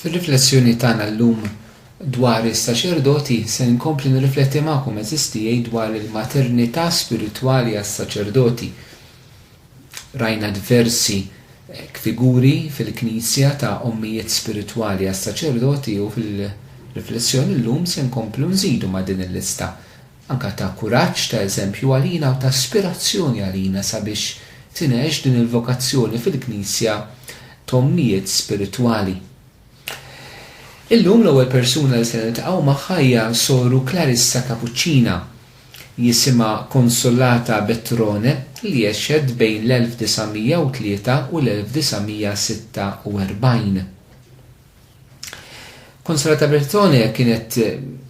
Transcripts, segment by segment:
Fir-riflessjoni tagħna llum dwar is-saċerdoti, se nkompli nirrifletti magħkom għeżież tiegħi dwar il-maternità spiritwali għas-saċerdoti. Rajna diversi figuri fil-Knisja ta' ommijiet spiritwali għas-saċerdoti u fil-riflessjoni llum se nkomplu nżidu ma' din il-lista. anke ta' kuraġġ, ta' eżempju għalina u ta' ispirazzjoni għalina sabiex tingħex din il-vokazzjoni fil-Knisja t'ommijiet spiritwali. Illum l-ewwel persuna li se niltaqgħu magħha hija Soru Clarissa Kapuċċina, jisimha Consolata Betrone, li għexet bejn l-1903 u l-1946. Konsolata Bertone kienet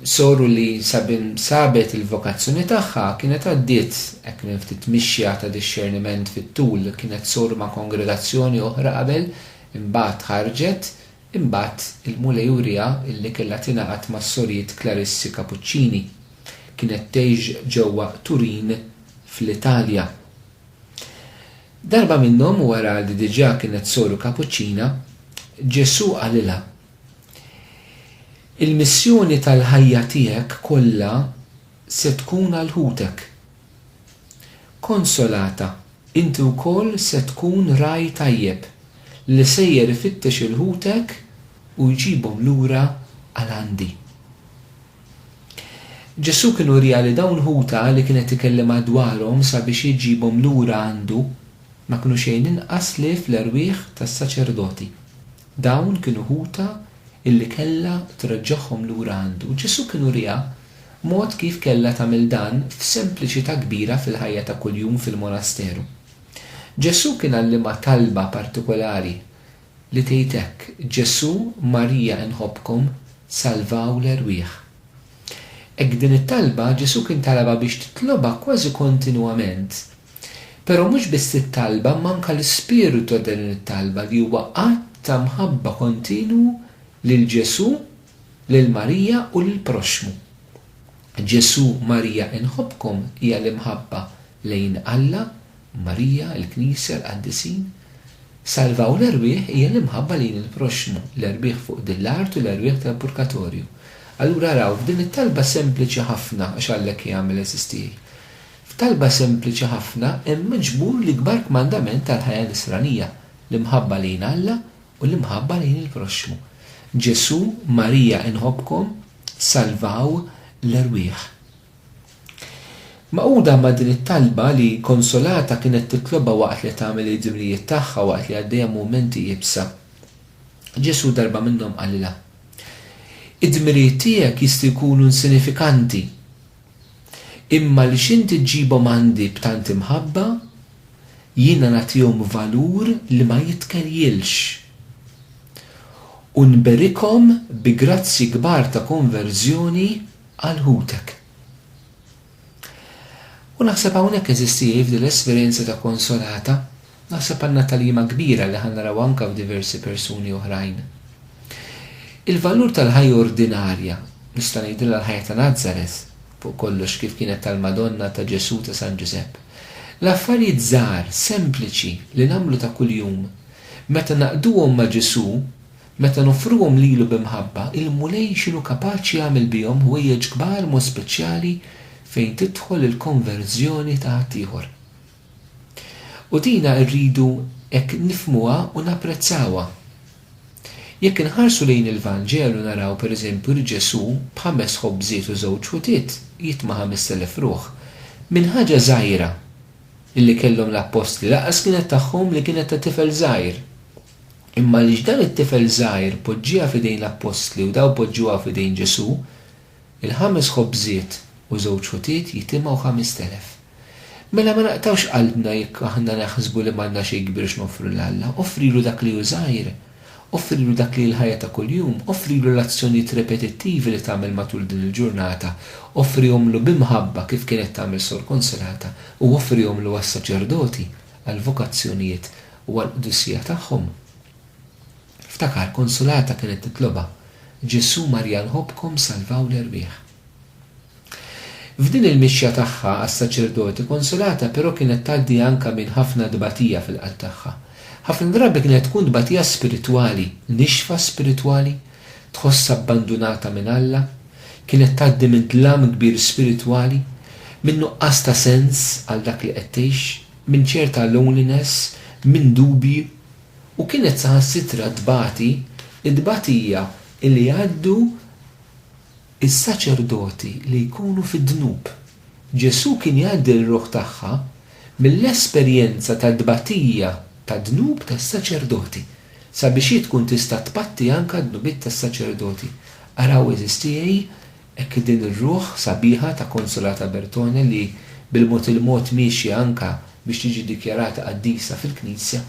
soru li sabin sabet il-vokazzjoni tagħha kienet għaddiet hekk minn ftit mixja ta' dixxerniment fit-tul, kienet soru ma' kongregazzjoni oħra qabel, imbagħad ħarġet, imbagħad il-Mulej uriha li kellha tingħaqad mas-Sorijiet Klarissi Kapuċċini. Kienet tgħix ġewwa Turin fl-Italja. Darba minnhom, wara li diġà kienet soru kapuċċina, Ġesù qalilha, Il-missjoni tal-ħajja tiegħek kollha se tkun għal ħutek. Konsolata, inti wkoll se tkun ragħaj tajjeb li sejjer ifittex 'il ħutek u jġibhom lura għal għandi. Ġesù kien uriha li dawn ħutha li kien qed ikellimha dwarhom sabiex jġibhom lura għandu ma kienu xejn inqas li fl-erwieħ tas-saċerdoti. Dawn kienu ħutha illi kellha treġġagħhom lura għandu. U Ġesù kien uriha mod kif kellha tagħmel dan f'sempliċità kbira fil-ħajja ta' kuljum fil-monasteru. Ġesù kien għallimha talba partikulari li tgħid hekk, Ġesù, Marija inħobbkom, salvaw l-erwieħ. Hekk din it-talba Ġesù kien talabha biex titlobha kważi kontinwament. Però mhux biss it-talba imma anke l-ispirtu ta' din it-talba li huwa att ta' mħabba kontinwu lil Ġesù, lil Marija u lill-proxxmu. Ġesù, Marija inħobbkom hija l-imħabba lejn Alla, Marija, il-Knisja, l-Qaddisin. Salvaw l-erwieħ hija l-imħabba lejn il-proxxmu, l-erwieħ fuq din l-art u l-erwieħ tal-purkatorju. Allura araw, f'din it-talba sempliċi ħafna, għax għalhekk hija għamel eżistiet, f'talba sempliċi ħafna hemm miġbur l-ikbar kmandament tal-ħajja nisranija, l-imħabba lejn Alla u l-imħabba lejn il-proxxmu. Ġesù, Marija inħobbkom, salvaw l-erwieħ. Magħquda ma' din it-talba li Consolata kienet titlobha waqt li qed tagħmel il-ġimlijiet tagħha waqt li għaddejja mumenti iebsa, Ġesù darba minnhom qalilha, Id-dmirijiet tiegħek jistgħu jkunu insinifikanti, imma għaliex inti ġġibhom għandi b'tant imħabba, jiena nagħtihom valur li ma jitkelljilx, u nberikhom bi grazzji kbar ta' konverżjoni, Għal ħutek. U naħseb hawnhekk, eżistieji, f'din l-esperjenza ta' Konsolata, naħseb għandna tagħlima kbira li ħa naraw anke f'diversi persuni oħrajn. Il-valur tal-ħajja ordinarja, nista' ngħidilha l-ħajja ta' Nazaret, fuq kollox kif kienet tal-Madonna, ta' Ġesù, ta' San Ġużepp. L-affarijiet żgħar, sempliċi, li nagħmlu ta' kuljum, meta naqduhom ma' Ġesù, Meta noffruhom lilu bi mħabba, il-Mulej x'inhu kapaċi jagħmel bihom ħwejjeġ kbar mod speċjali fejn tidħol il-konverżjoni ta' ħaddieħor. U dina rridu hekk nifhmuha u napprezzawha. Jekk inħarsu lejn il-Vanġelu naraw pereżempju li Ġesù b'ħames ħobżiet u żewġ ħutiet jitma' ħamest elef ruħ minn ħaġa żgħira li kellhom l-appostli lanqas kienet tagħhom li kienet ta' tifel żgħir. Imma għaliex dan it-tifel żgħir poġġieha f'idejn l-appostli u dawn poġġuha f'idejn Ġesù, il-ħames ħobżiet u żewġ ħutiet jitimgħu ħamest elef. Mela ma naqtgħux qalbna jekk aħna naħsbu li m'għandna xejn kbir x'noffru lil Alla. Offrilu dak li hu żgħir. Offrilu dak li hi l-ħajja ta' kuljum. Offrilu l-azzjonijiet repetittivi li tagħmel matul din il-ġurnata. Offrihomlu bi mħabba kif kienet tagħmel Sor Konsolata u offrihomlu għas-saċerdoti, għall-vokazzjonijiet, u għall-qdusija tagħhom. Ftakar, Konsulata kienet titlobha, Ġesù, Marija nħobbkom, salvaw l-erwieħ. F'din il-mixja tagħha għas-saċerdoti, Konsulata però kienet tgħaddi anke minn ħafna tbatija fil-qalb tagħha. Ħafna drabi kienet tkun tbatija spiritwali, nixfa spiritwali, tħossha abbandunata minn Alla, kienet tgħaddi minn dlam kbir spiritwali, minn nuqqas ta' sens għal dak li qed tgħix, minn ċerta loneliness, minn dubji, u kienet saħansitra tbati t-tbatija li jgħaddu s-saċerdoti li jkunu fid-dnub. Ġesù kien jgħaddi r-ruħ tagħha mill-esperjenza ta' tbatija ta' dnub tas-saċerdoti, sabiex hi tkun tista' tbatti anke d-dnubiet tas-saċerdoti. Araw, għeżież tiegħi, Hekk li din ir-ruħ sabiħa ta' Consolata Bertone li bil-mod il-mod miexja anka biex tiġi dikjarata qaddisa fil-Knisja,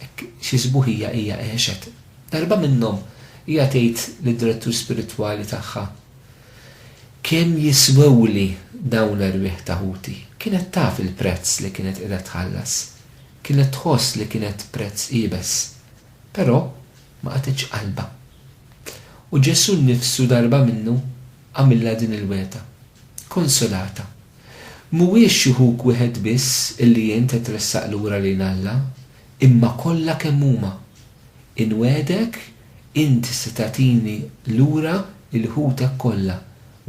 hekk xi sbuħija hija għexet. Darba minnhom hija tgħid lid-direttur spiritwali tagħha, Kemm jiswewli dawn l-erwieħ ta' ħuti? Kienet taf il-prezz li kienet qiegħda tħallas. Kienet tħoss li kienet prezz iebes. Però. ma qatgħetx qalbha. U Ġesù nnifsu darba minnu għamilha din il-wegħda, Konsolata, mhuwiex xi ħuk wieħed biss illi int qed tressaq lura lejn Alla, imma kollha kemm huma. Inwegħdek inti se tagħtini lura lil ħutek kollha,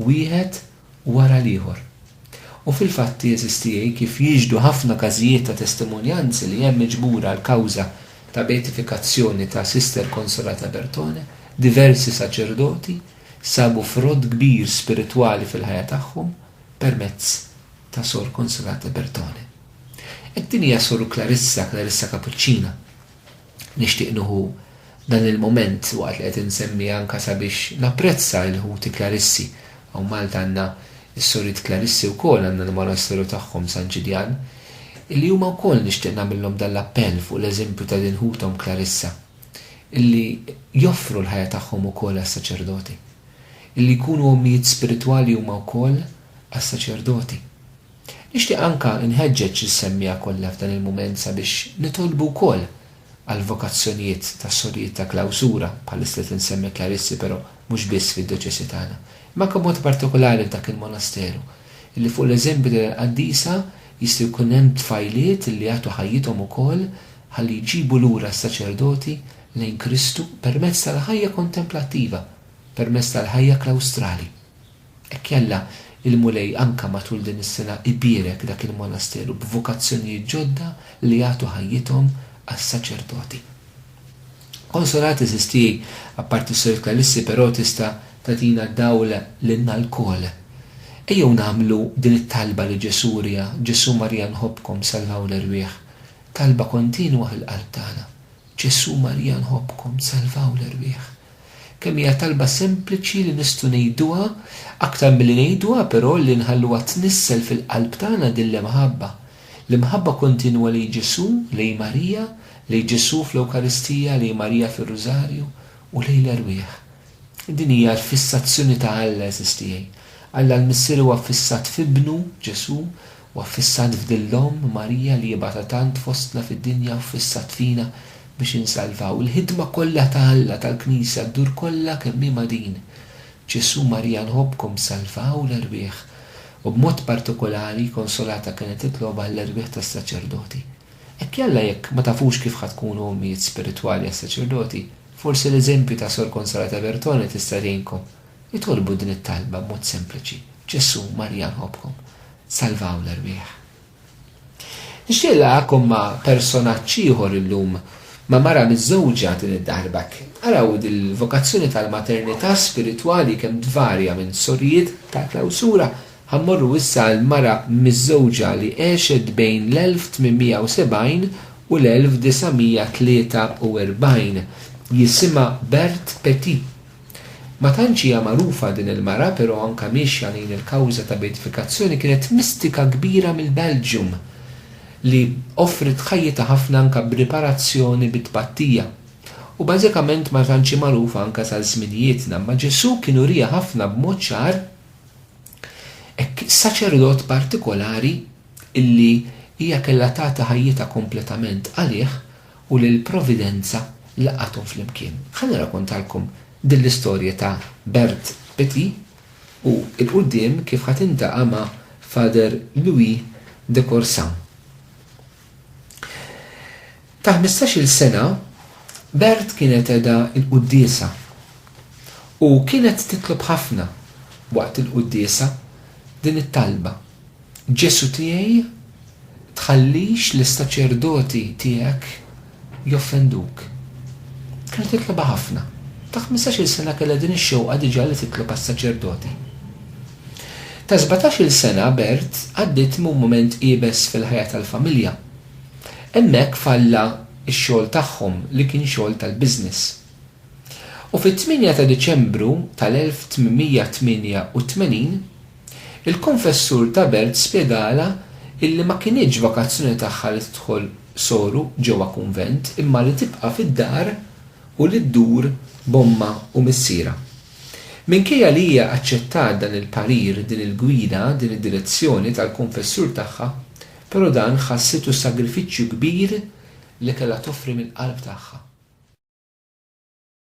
wieħed wara l-ieħor. U fil-fatt jeżisti kif jixhdu ħafna każijiet ta' testimonjanzi li hemm miġbura l-kawża ta' beatifikazzjoni ta' Sister Consolata Bertone, diversi saċerdoti sabu frott kbir spiritwali fil-ħajja tagħhom permezz ta' Sor Consolata Bertone. Hekk din hija Soru Clarissa, Clarissa Kapuċċina. Nixtieq nieħu dan il-mument waqt li qed insemmi anke sabiex napprezza lil ħuti Klarissi. Hawn Malta għandna s-soriet Klarissi wkoll, għandna l-monasteru tagħhom San Ġiljan, illi huma wkoll nixtieq nagħmillhom dan l-appell fuq l-eżempju ta' din ħuthom Klarissa, illi joffru l-ħajja tagħhom ukoll għas-saċerdoti. Illi jkunu ommijiet spiritwali huma wkoll għas-saċerdoti. Nixtieq anke nħeġġeġ lis-semmiegħa kollha f'dan il-mument sabiex nitolbu wkoll għall-vokazzjonijiet tas-sorijiet ta' klawsura, bħalissa qed insemmi klarissi però mhux biss fid-djoċesi tagħna, imma anke b'mod partikolari f'dak il-monasteru, illi fuq l-eżempju ta' dil-qaddisa jistgħu jkun hemm tfajliet illi jagħtu ħajjithom ukoll ħalli jġibu lura s-saċerdoti lejn Kristu permezz tal-ħajja kontemplattiva, permezz tal-ħajja klawstrali. Hekk jalla, il-Mulej anka matul din is-sena ibierek dak il-monasteru b'vokazzjonijiet ġodda li jagħtu ħajjithom għas-saċerdoti. Konsolat għeżież tiegħi, apparti s-Sor Clarissi però tista' tagħtina dawl lilna lkoll. Ejjew nagħmlu din it-talba li Ġesù wriha, Ġesù Marija nħobbkom salvaw l-erwieħ. Talba kontinwa fil-qalb tagħna, Ġesù Marija nħobbkom salvaw l-erwieħ. Kemm hija talba sempliċi li nistgħu ngħiduha, aktar milli ngħiduha però li nħalluha tnissel fil-qalb tagħna din l-imħabba. L-imħabba kontinwa lejn Ġesù, lejn Marija, lejn Ġesù fl-Ewkaristija, lejn Marija fir-Rużarju, u lejn l-erwieħ. Din hija l-fissazzjoni ta' Alla, għeżież tiegħi. Alla l-Missier huwa ffissat f'Ibnu, Ġesù, U affissat f'din l-Omm, Marija, li jibgħatha tant fostna fid-dinja u ffissat fina biex insalvaw. Il-ħidma kollha ta' Alla, tal-Knisja, ddur kollha kemm hi ma' din. Ġesù, Marija, nħobbkom, salvaw l-erwieħ. U b'mod partikolari, Konsolata kienet titlob għall-erwieħ tas-saċerdoti. Hekk jalla jekk ma tafux kif ħa tkunu ommijiet spiritwali għas-saċerdoti, forsi l-eżempju ta' Sor Konsolata Bertone tista' tgħinkom. Itolbu din it-talba b'mod sempliċi, Ġesù, Marija nħobbkom, salvaw l-erwieħ. Nixtieq nlaqgħakom ma' personaġġ ieħor illum, ma' mara miżżewġa din id-darba. Araw dil-vokazzjoni tal-maternità spiritwali kemm tvarja minn sorijiet ta' klawsura, ħa mmorru issa għal mara miżżewġa li għexet bejn l-1870 u l-1943. Jisimha Berthe Petit. Ma tantx hija magħrufa din il-mara pero anka miexja lejn il-kawża ta' beatifikazzjoni kienet mistika kbira mill-Belgium li offriet ħajjitha ħafna anka b'riparazzjoni bi tpattija. U bażikament ma tantx hi magħrufa anka sa żminijietna imma Ġesù kien uriha ħafna b'mod ċar hekk saċerdot partikolari illi hija kellha tagħti ħajjitha kompletament għalih u li l-Providenza laqgħathom flimkien. Ħa nirrakontalkom din l-istorja ta' Bert Petit u 'l quddiem kif ħa tintaqa' ma' Father Louis de Corsan. Ta' ħmistax-il sena, Bert kienet qegħda l-quddiesa u kienet titlob ħafna waqt il-quddiesa din it-talba. Ġesu' tiegħi, tħallix lis-saċerdoti tiegħek joffenduk. Kienet titlobha ħafna. Ta' ħmistax-il sena kellha din ix-xewqa diġà li titlob għas-saċerdoti. Ta' sbatax-il sena Bert għaddiet minn mument iebes fil-ħajja tal-familja. Hemmhekk falla x-xogħol tagħhom li kien xogħol tal-business. U fit-tmienja ta' Diċembru tal-1888, Il-konfessur ta' belt spjegalha illi ma kinitx vakazzjoni tagħha li tidħol soru ġewwa kunvent imma li tibqa' fid-dar u li ddur b'ommha u missierha. Minkejja li hija aċċettat dan il-parir, din il-gwida, din id-direzzjoni tal-konfessur tagħha, però dan ħassitu sagrifiċċju kbir li kellha toffri mill-qalb tagħha.